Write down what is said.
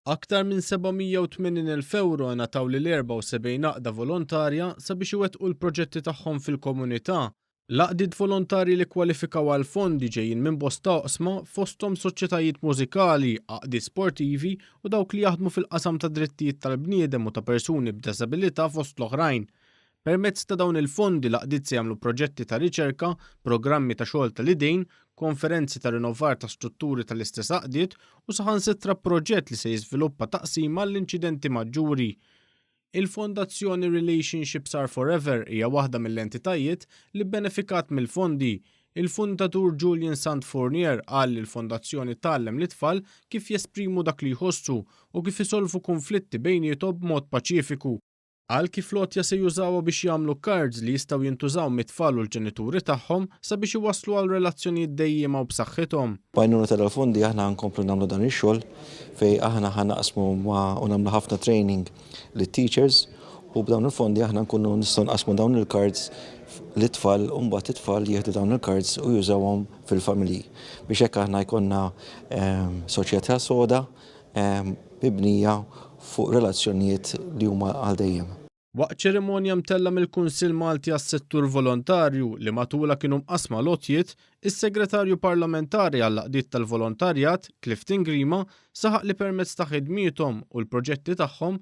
Aktar minn 780,000 ewro ingħataw lil 74 għaqda volontarja sabiex iwettqu l-proġetti tagħhom fil-komunità. L-għaqdiet volontarji li kkwalifikaw għall-fondi ġejjin minn bosta oqsma fosthom soċjetajiet mużikali, għaqdiet sportivi u dawk li jaħdmu fil-qasam tad-drittijiet tal-bniedem u ta' persuni b'deżabilità fost l-oħrajn. Permezz ta' dawn il-fondi l-għaqdiet se jagħmlu proġetti ta' riċerka, programmi ta' xogħol tal-idejn, konferenzi ta' rinnovar ta' strutturi tal-istess għaqdiet u saħansitra proġett li se jiżviluppa taqsima għall-inċidenti maġġuri. Il-Fondazzjoni Relationships Are Forever hija waħda mill-entitajiet li bbenefikat mill-fondi. Il-fundatur Julian Sant Fournier qal li l-Fondazzjoni tgħallem lit-tfal kif jesprimu dak li jħossu u kif isolvu kunflitti bejniethom b'mod paċifiku. Qal kif l-għotja se jużawha biex jagħmlu cards li jistgħu jintużaw mit-tfal u l-ġenituri tagħhom sabiex iwasslu għal relazzjonijiet dejjiema u b'saħħithom. B'għajnuna tal-fondi aħna ħankomplu nagħmlu dan ix-xogħol fejn aħna ħa naqsmu ma' u nagħmlu ħafna training lit-teachers u b'dawn il-fondi aħna nkunu nistgħu nqassmu dawn il-cards lit-tfal u mbagħad it-tfal jieħdu dawn il-cards u jużawhom fil-familji biex hekk aħna jkollna ehm, soċjetà soda mibnija fuq relazzjonijiet li huma għal dejjem. Waqt ċerimonja mtellgħa mill-Kunsill Malti għas-Settur Volontarju, li matulha kienu mqassma l-għotjiet, is-Segretarju Parlamentari għall-Għaqdiet tal-Volontarjat, Clifton Grima, saħaq li permezz ta' ħidmiethom u l-proġetti tagħhom